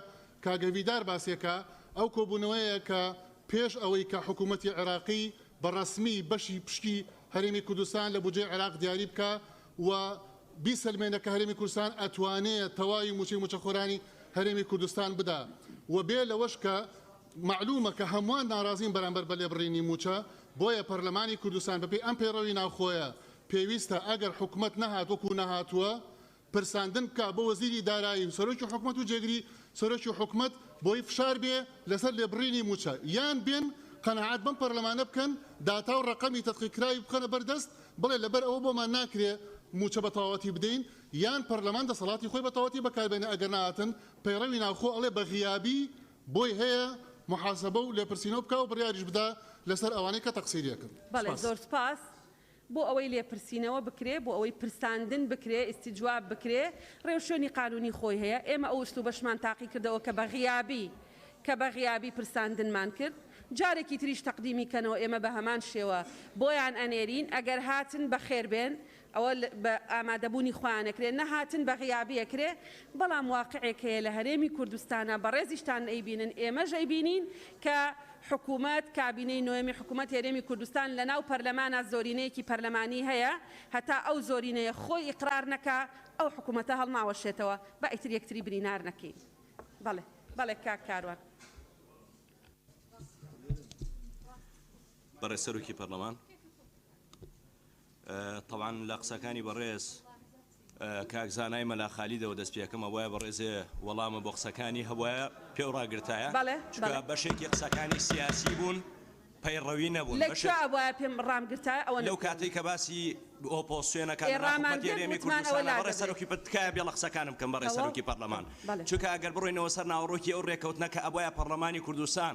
کاگە ڤیدار باسێکا ئەو کۆبوونەوەیە کە پێش ئەوەی کە حکومەتی عێراقی بە ڕەسمی بەشی پشکی هەرێمی کوردستان لە بودجەی عێراق دیاری بکا و بیسەلمێنە کە هەرێمی کوردستان ئەتوانێ تەواوی موچەی موچەخۆرانی هەرێمی کوردستان بدا و بێ لەوەش کە مەعلومە کە هەموان ناڕازین بەرامبەر بە لێبڕینی موچە بۆیە پەرلەمانی کوردستان بەپێی ئەم پەیڕەوی ناوخۆیە پێویستە ئەگەر حکومەت نەهات وەکو نەهاتووە پرساندن بکات بۆ وەزیری دارایی و سەرۆکی حکومەت و جێگری سەرۆکی حکومەت بۆی فشار بێ لەسەر لێبڕینی مووچە یان بێن قەناعەت بەم پەرلەمانە بکەن داتا و ڕەقەمی تەدقیقکراوی بخەنە بەر دەست بڵێ لەبەر ئەوە بۆمان ناکرێ مووچە بە تەواوەتی بدەین یان پەرلەمان دەسەڵاتی خۆی بە تەواوەتی بەکاربێنێ ئەگەر نەهاتن پەیڕەوی ناوخۆ ئەڵێ بە غیابی بۆی هەیە محاسبە و لێپرسینەوە بکا و بڕیاریش بدا لەسەر ئەوانەی کە تەقسیریەکن. بەڵێ سپاس. زۆر سپاس. بۆ ئەوەی لێپرسینەوە بکرێ، بۆ ئەوەی پرساندن بکرێ، ئیستیجواب بکرێ، ڕێوشوێنی قانوونی خۆی هەیە. ئێمە ئەو ئسلوبەشمان تاقی کردەوە کە بە غیابی کە بە غیابی پرساندنمان کرد. جارێکی تریش تەقدیمی کەنەوە ئێمە بە هەمان شێوە بۆیان ئەنێرین. ئەگەر هاتن بە خێر بێن ئەوە بە ئامادەبوونی خۆیان ئەکرێ، نەهاتن بە غیابی ئەکرێ. بەڵام واقعێک هەیە لە هەرێمی کوردستانا بەڕێزیشتان ئەیبینن، ئێمەش ئەیبینین کە حکومەت، کابینەی نۆیەمی حکومەت هەرێمی کوردستان لەناو پەرلەمانا زۆرینەیەکی پەرلەمانی هەیە، هەتا ئەو زۆرینەیە خۆی ئیقرار نەکا ئەو حکومەتە هەڵناوەشێتەوە، با ئیتر یەکتری برینار نەکەین. بەڵێ بەڵێ کاک کاروان. بەڕێز سەرۆکی پەرلەمان، تەبعەن لە قسەکانی بەڕێز کاک زانای مەلا خالیدەوە دەست پێ ئەکەم ئەوایە بەڕێزێ وەڵامە بۆ قسەکانی هەبوایە پێو ڕاگرتایە بەڵێ چونکە بەڵێ بەشێکی قسەکانی سیاسی بوون پەیڕەوی نەبوون لە بەشێ کوێ ئەبوایە پێم ڕام گرتایە ئەوە لەو نەتوانی کاتەی کە باسی ئۆپۆسیۆنە کە ئێ لەناو ڕامان حکومەتی گرت هەرێمی وتمان ئەوە کوردستانە بەڕێز لادەبرێ سەرۆکی پە تکایە بێڵە قسەکانم بکەم بەڕێز تەواو سەرۆکی پەڕلەمان بەڵێ چونکە ئەگەر بڕۆینەوە سەر ناوەڕۆکی ئەو ڕێکەوتنە کە ئەبوایە پەڕلەمانی کوردستان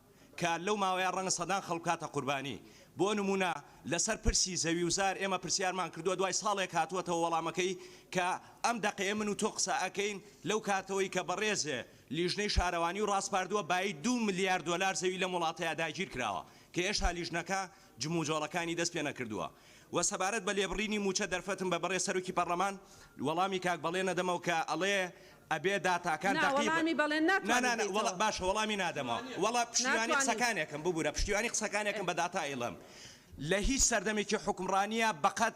کە لەو ماوەیە ڕەنگە سەدان خەڵک بکاتە قوربانی، بۆ نموونە لەسەر پرسی زەوی و زار ئێمە پرسیارمان کردووە دوای ساڵێک هاتووەتەوە وەڵامەکەی کە ئەم دەقەیە من و تۆ قسە ئەکەین لەو کاتەوەی کە بەڕێزێ لیژنەی شارەوانی و ڕاسپاردووە بایی دوو ملیار دۆلار زەوی لەم وڵاتەیا داگیر کراوە کە هێشتا لیژنەکە جموجۆڵەکانی دەست پێ نەکردووە و سەبارەت بە لێبڕینی مووچە دەرفەتم بە بەڕێز سەرۆکی پەڕلەمان وەڵامی کاک بەڵێن ئەدەمەوە کە ئەڵێ ئەبێ داتاکان نا دەقیق وەڵامی بەڵێن نا ناتوانی نا نا وەڵا بدەیتەوە باشە وەڵامی نادەمەوە وەڵا پشتیوانی ناتوانی قسەکانێکم ببورە پشتیوانی قسەکانێکم بە داتا ئیڵێم لە هیچ سەردەمێکی حوکمڕانییە بەقەد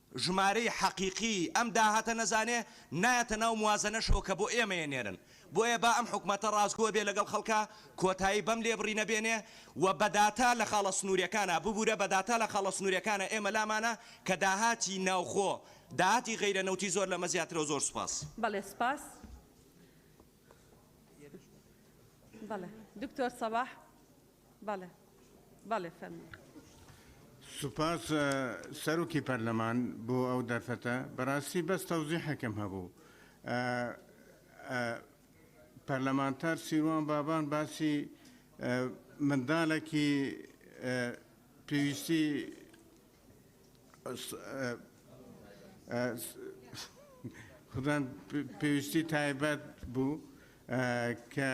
ژمارەی حەقیقیی ئەم داهاتە نەزانێ، نایەتە ناو موازەنەشەوە کە بۆ ئێمەیە نێرن. بۆیە با ئەم حکومەتە ڕاستگۆ بێ لەگەڵ خەڵکا، کۆتایی بەم لێبڕینە بێنێ و بە داتا لە خاڵە سنوورییەکانە، ببوورە بە داتا لە خاڵە سنوورییەکانە ئێمە لامانە کە داهاتی ناوخۆ، داهاتی غەیرە نەوتی زۆر لەمە زیاترە و زۆر سوپاس. بەڵێ سوپاس. بەڵێ دکتۆر سەباح. بەڵێ بەڵێ فەرموو. سوپاس سەرۆکی پەرلەمان بۆ ئەو دەرفەتە بەراستی بەس تەوزیحەکەم هەبوو پەرلەمانتار سیروان بابان باسی مندالەکی پێویستی خودان پێویستی تایبەت بوو کە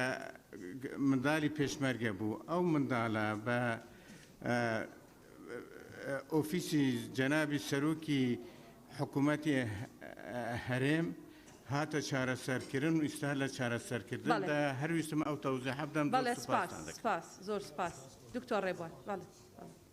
منداڵی پێشمەرگە بوو ئەو منداڵە بە ئۆفیسی جەنابی سەرۆکی حکوومەتی هەرێم هاتە چارەسەرکردن و ئیستا لە چارەسەرکردندا هەرویستم ئەو تەوزە حەبدەم بەڵێ سپاس زۆر سپاس دکتۆر ڕێبوار بەڵێ.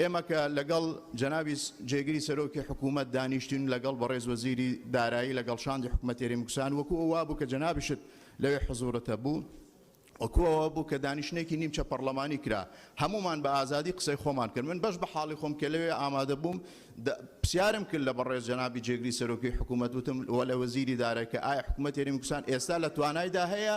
ئێمە کە لەگەڵ جەنابی جێگری سەرۆکی حکوومەت دانیشتین و لەگەڵ بەڕێز وەزیری دارایی لەگەڵ شاندی حکومەتێری مکوسان وەکوو ئەو وابوو کە جەنابیشت لەوێ حزوورت هەبوو، وەکوو ئەوە بوو کە دانیشتنێکی نیمچە پەڕڵەمانی کرا، هەموومان بە ئازادی قسەی خۆمان کرد. من بەش بە حاڵی خۆم کە لەوێ ئامادە بووم پرسیارم کرد لە بەڕێز جەنابی جێگری سەرۆکی حکوومەت وتم و لە وەزیری دارایی کە ئایا حکومەتێری مکوسان ئێستا لە توانایدا هەیە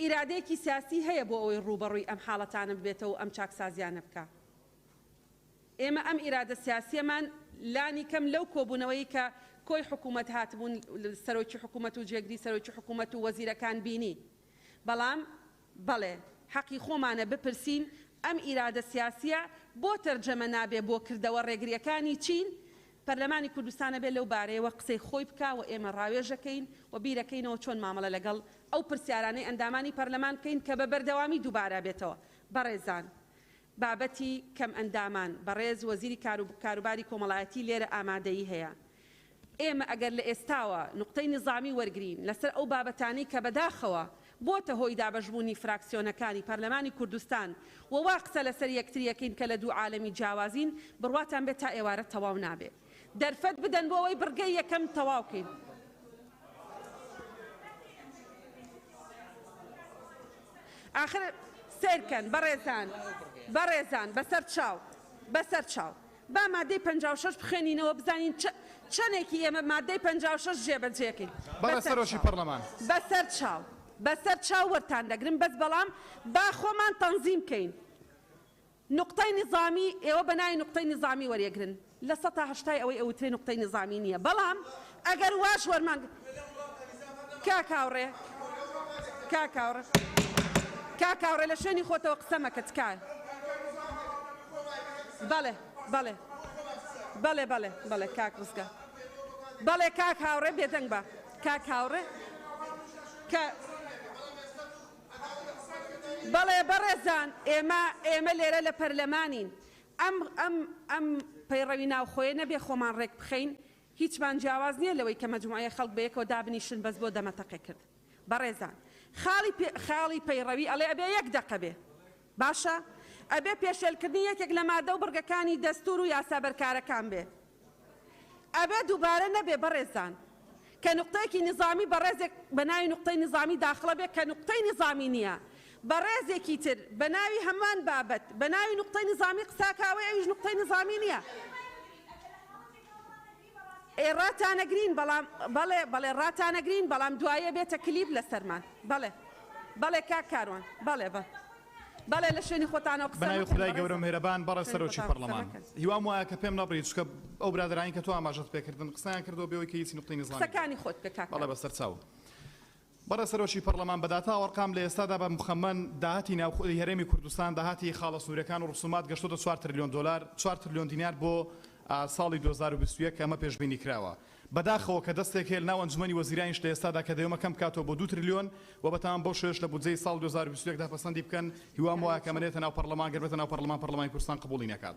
ئیرادەیەکی سیاسی هەیە بۆ ئەوەی ڕووبەڕووی ئەم حاڵەتانە ببێتەوە و ئەم چاکسازیانە بکا. ئێمە ئەم ئیرادە سیاسیەمان لانی کەم لەو کۆبوونەوەی کە کۆی حکوومەت هاتبوون سەرۆکی حکوومەت و جێگری سەرۆکی حکوومەت و وەزیرەکان بینی بەڵام بەڵێ حەقی خۆمانە بپرسین ئەم ئیرادە سیاسیە بۆ تەرجەمە نابێ بۆ کردەوە ڕێگریەکانی چین پەرلەمانی کوردستان ئەبێ لەو بارەیەوە قسەی خۆی بکا و ئێمە ڕاوێژەکەین و بیرەکەینەوە چۆن مامەڵە لەگەڵ ئەو پرسیارانەی ئەندامانی پەرلەمان بکەین کە بە بەردەوامی دووبارە ئەبێتەوە بەڕێزان بابەتی کەمئەندامان بەڕێز وەزیری کار و کاروباری کۆمەڵایەتی لێرە ئامادەیی هەیە ئێمە ئەگەر لە ئێستاوە نوقتەی نیزامی وەرگرین لەسەر ئەو بابەتانەی کە بەداخەوە بۆتە هۆی دابەشبوونی فراکسیۆنەکانی پەرلەمانی کوردستان و وا قسە لەسەر یەکتری ئەکەین کە لە دوو عالەمی جیاوازین، بڕواتان بێت تا ئێوارە تەواو نابێت دەرفەت بدەن بۆ ئەوەی بڕگەی یەکەم تەواو کەین. ئاخر سەیرکەن بەڕێزان، بەڕێزان، بەسەر چاو، بەسەر چاو، با مادەی پەنجا و شەش بخوێنینەوە بزانین چە چەنێکی ئێمە مادەی پەنجا و شەش جێبەجێکەین بەڵێ بەسەر سەرۆکی چاو پەرلەمان. بەسەر چاو بەسەر چاو وەرتان دەگرم بەس بەڵام با خۆمان تەنزیم کەین نوقتەی نیزامی ئێوە بەناوی نوقتەی نیزامی وەریەگرن لە سەتا هەشتای ئەوەی ئەوترێ نوقتەی نیزامی نیە بەڵام ئەگەر واش وەرمان گرت کاک هاوڕێ کاک هاوڕێ کاک هاوڕێ لە شوێنی خۆتەوە قسە مەکە تکایە بەڵێ بەڵێ بەڵێ بەڵێ بەڵێ کاک ڕزگار بەڵێ کاک هاوڕێ بێدەنگ بە کاک هاوڕێ کە بەڵێ بەڕێزان ئێمە ئێمە لێرە لە پەرلەمانین ئەم ئەم ئەم پەیڕەوی ناوخۆیە نەبێ خۆمان ڕێک بخەین هیچمان جیاواز نیە لەوەی کە مەجموعەیە خەڵک بەیەکەوە دابنیشن بەس بۆ دەمەتەقێ کرد بەڕێزان خاڵی پێ خاڵی پەیڕەوی ئەڵێ ئەبێ یەک دەقە بێ باشە ئەبێ پێشێل کردنی یەکێک لە مادە و بڕگەکانی دەستور و یاسا بەرکارەکان بێ ئەبێ دوبارە نەبێ بەڕێزان کە نوقتەیەکی نیزامی بەڕێزێک بە ناوی نوقتەی نیزامی داخڵە بێ کە نوقتەی نیزامی نیە بەڕێزێکی تر بە ناوی هەمان بابەت بە ناوی نوقتەی نیزامی قساکاوەی ئەویش نوقتەی نیزامی نیە. ئێ ڕاتانەگرین بەڵام بەڵێ بەڵێ ڕاتانەگرین بەڵام دوایێ بێتە کلیپ لەسەرمان بەڵێ بەڵێ کاک کاروان بەڵێ بە بەڵێ لە شوێنی خۆتانەوە قسە بەناوی مەکەن خودای گەورەو بەڕێزم میهرەبان بەڕێز شوێنی سەرۆکی خۆتان قسە پەڕلەمان مەکەن هیوام وایە کە پێم نەبڕی چونکە ئەو برادەرانەی کە تۆ ئاماژەت پێ کردن قسەیان کردوە بێ ئەوەی کە هیچ نوقتەی نیزامی بێ قسەکانی خۆت بکە کاک بەڵێ کاروان. بەسەرچاو. بەڕێز سەرۆکی پەڕڵەمان بە داتا وەڕقام لە ئێستادا بە مخەمەن داهاتی ناوخ ی هەرێمی کوردستان داهاتی خاڵە سنوورەکان و ڕسومات گەشتۆتە چوار ترلیۆن دۆلار چوار ترلیۆن دینار بۆ ساڵی دوو هەزار و بیست و یەک کە ئەمە پێشبینی کراوە بە داخەوە کە دەستێک هەیە لە ناو ئەنجومەنی وەزیرانیش لە ئێستادا کە دەیۆمە کەم بکاتەوە بۆ دوو ترلیۆن وە بەتەمام بەو شێوەیەش لە بودجەی ساڵ دوو هەزار و بیست و یەک دا پەسەندی بکەن هیوام وایە کە ئەمە نێتە ناو پەڕڵەمان گەر بێتە ناو پەڕڵەمان پەڕڵەمانی کوردستان قبوڵی نەکات.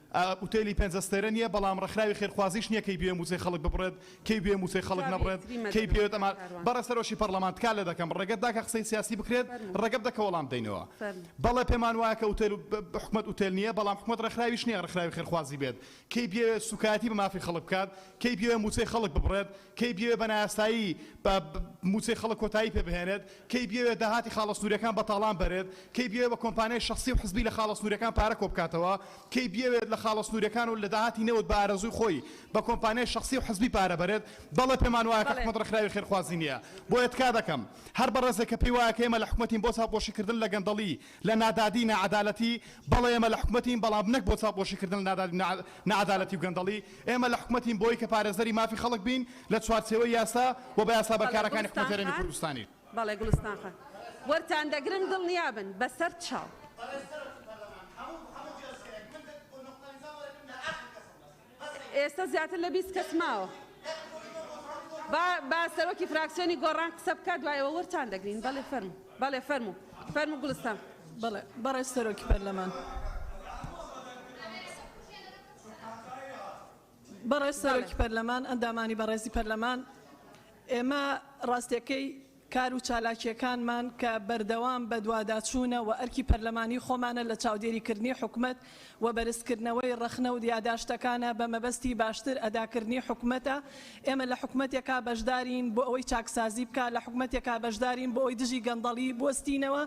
ئوتێلی پێنج ئەستێرە نیە بەڵام ڕێکخراوی خێرخوازیش نیە کەی بوێ موچەی خەڵک ببڕێت کەی بوێ موچەی خەڵک نەبڕێت کەی پێوێت ئەما بەڕێز سەرۆکی پەڕلەمان تکا لێ دەکەم ڕێگەت داکە قسەی سیاسی بکرێت ڕێگە بدە کە وەڵام بدەینەوە بەڵێ پێمان وایە کە ئوتێل حکومەت ئوتێل نیە بەڵام حکومەت ڕێکخراویش نیە ڕێکخراوی خێرخوازی بێت کەی بوێ سوکایەتی بە مافی خەڵک بکات کەی بوێ موچەی خەڵک ببڕێت کەی بیەوێت بە نایاسایی بە مووچەی خەڵک کۆتایی پێ بهێنێت، کەی بیەوێت داهاتی خاڵە سنوورییەکان بە تاڵان بەرێت، کەی بیەوێت بە کۆمپانیای شەخسی و حزبی لە خاڵە سنوورییەکان پارە کۆ بکاتەوە، کەی بیەوێت لە خاڵە سنوورییەکان و لە داهاتی نەوت بە ئارەزووی خۆی بە کۆمپانیای شەخسی و حزبی پارە بەرێت، بەڵێ پێمان وایە کە حکومەت ڕێکخراوی خێرخوازی نییە، بۆیە تکا دەکەم هەر بەڕێزێک کە پێی وایە کە ئێمە لە حکومەتین بۆ چاوپۆشی کردن لە گەندەڵی، لە نادادی ناعەدالەتی بەڵێ ئێمە لە حکومەتین بەڵام نەک بۆ چاوپۆشی کردن لە نادادی و ناعەدالەتی و گەندەڵی ئێمە لە حکومەتین بۆی کە پارێزەری مافی خەڵک بین لە چوارچێوەی یاسا و بە یاسا بەڵێ بەرکارەکانی گوڵستان حکومەتی هەرێمی خان کوردستانی. بەڵێ گوڵستان خان وەرتان دەگرن دڵنیا بن بە سەر چاو. ئێستا زیاتر لە بیست کەس ماوە. با با سەرۆکی فراکسیۆنی گۆڕان قسە بکات دوای ئەوە وەرتان دەگرین. بەڵێ فەرموو. بەڵێ فەرموو. فەرموو گوڵستان. بەڵێ بەڕێز سەرۆکی پەرلەمان. بەڕێز سەرۆکی پەرلەمان، ئەندامانی بەڕێزی پەرلەمان، ئێمە ڕاستییەکەی کار و چالاکییەکانمان کە بەردەوام بەدواداچوونە و ئەرکی پەرلەمانی خۆمانە لە چاودێریکردنی حکومەت و بەرزکردنەوەی ڕەخنە و یاداشتەکانە بە مەبەستی باشتر ئەداکردنی حکومەتە ئێمە لە حکومەتێکا بەشدارین بۆ ئەوەی چاکسازی بکا لە حکومەتێکا بەشدارین بۆ ئەوەی دژی گەندەڵی بوەستینەوە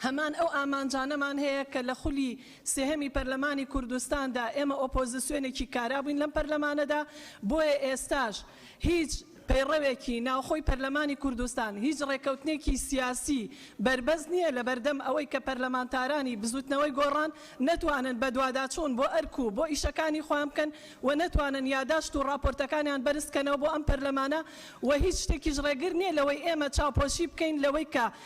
هەمان ئەو ئامانجانەمان هەیە کە لە خولی سێهەمی پەرلەمانی کوردستاندا ئێمە ئۆپۆزسیۆنێکی کارا بووین لەم پەرلەمانەدا، بۆیە ئێستاش هیچ پەیڕەوێکی ناوخۆی پەرلەمانی کوردستان، هیچ ڕێککەوتنێکی سیاسی بەربەست نییە لەبەردەم ئەوەی کە پەرلەمانتارانی بزووتنەوەی گۆڕان نەتوانن بەدواداچوون بۆ ئەرک و بۆ ئیشەکانی خۆیان بکەن و نەتوانن یاداشت و ڕاپۆرتەکانیان بەرزبکەنەوە بۆ ئەم پەرلەمانە و هیچ شتێکیش ڕێگر نییە لەوەی ئێمە چاوپۆشی بکەین لەوەی کە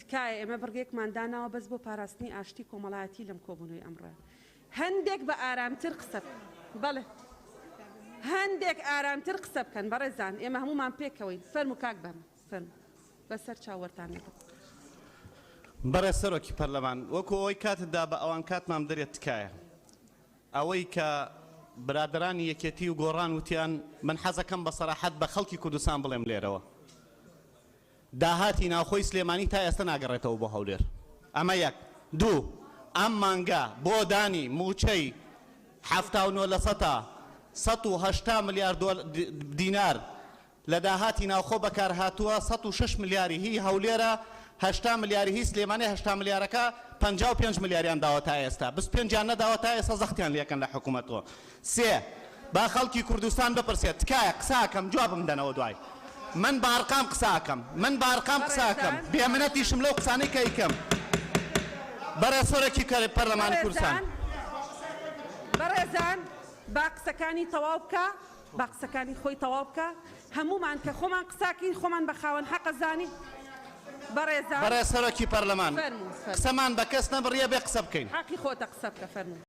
تکایە ئێمە بڕگەیەکمان داناوە بەس بۆ پاراستنی ئاشتی کۆمەڵایەتی لەم کۆبوونەوەی ئەمڕۆ هەندێک بە ئارامتر قسە بەڵێ هەندێک ئارامتر قسە بکەن بەڕێزان ئێمە هەمومان پێکەوەین فەرم و کاک بەم فەرم بەسەر چاوەرتان لەگەڵ بەڕێ سەرۆکی پەرلەمان وەکو ئەوەی کاتت دا بە ئەوان کاتمان بدەرێت تکایە ئەوەی کە برادرانی یەکێتی و گۆڕان وتیان من حەزەکەم بە سەراحەت بە خەڵکی کوردستان بڵێم لێرەوە داهاتی ناوخۆی سلێمانی تا ئێستا ناگەڕێتەوە بۆ هەولێر، ئەمە یەک. دوو، ئەم مانگە بۆ دانی مووچەی حەفتا و نۆ لەسەتا، سەد و هەشتا ملیار دینار، لە داهاتی ناوخۆ بەکارهاتووە، سەد و شەش ملیاری هی هەولێرە، هەشتا ملیاری هی سلێمانیە، هەشتا ملیارەکە پەنجا و پێنج ملیاریان داوە تا ئێستا، بیست و پێنجیان نەداوە تا ئێستا زەختیان لێکەن لە حکومەت و سێ، با خەڵکی کوردستان بپرسێت، تکایە قسە ئەکەم جوابم بدەنەوە دوای من بە ئەرقام قسە ئەکەم من بە ئەرقام قسە ئەکەم بێ منەتیشم لەو قسانەی کە ئەیکەم بەڕێز سەرۆکی پەرلەمانی کوردستان. بەڕێزان بەڕێزان با قسەکانی تەواو بکا با قسەکانی خۆی تەواو بکا هەموومان کە خۆمان قسە ئەکەین خۆمان بە خاوەن حەقە زانی بەڕێزان. بەڕێز سەرۆکی پەرلەمان فەرموو فەرموو. قسەمان بە کەس نەبڕیە بێ قسە بکەین. حەقی خۆتە قسە بکە فەرموو.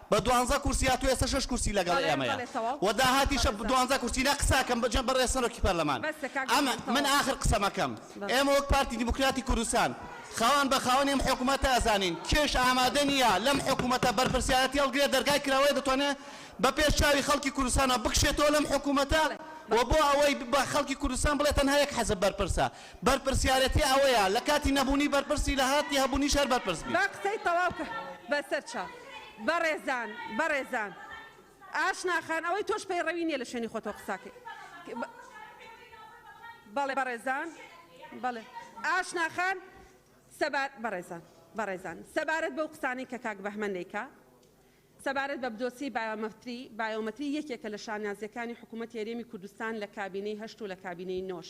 بە دوانزە کورسی هاتوە ئێستا شەش کورسی لەگەڵ ئێمەیە و داهاتیشە دوانزە کورسی نە قساکەم بەجە بەڕێز سەرۆکی پەرلەمان ئەمە من ئاخر قسەمەکەم ئێمە وەک پارتی دیموکراتی کوردستان خاوەن بە خاوەنی ئەم حکومەتە ئەزانین کێش ئامادە نییە لەم حکومەتە بەرپرسیارەتی هەڵگرێت دەرگای کراوەیە دەتوانێت بە پێش چاوی خەڵکی کوردستانە بکشێتەوە لەم حکومەتە و بۆ ئەوەی بە خەڵکی کوردستان بڵێت تەنها یەک حەزب بەرپرسە بەرپرسیارەتی ئەوەیە لە کاتی نەبوونی بەرپرسی لە هاتی هەبوونیش هەر بەرپرس بیت. بەڕێزان بەڕێزان ئاشنا خان ئەوەی تۆش پەیڕەوی نیە لە شوێنی خۆتەوە قساکەی بەڵێ بەڕێزان بەڵێ ئاشنا خان سەبار بەڕێزان بەڕێزان سەبارەت بەو قسانەی کە کاک بەهمەن دەیکا سەبارەت بە بدۆسی بایۆمەتری بایۆمەتری یەکێکە لە شانازیەکانی حکوومەت هێرێمی کوردستان لە کابینەی هەشت و لە کابینەی نۆش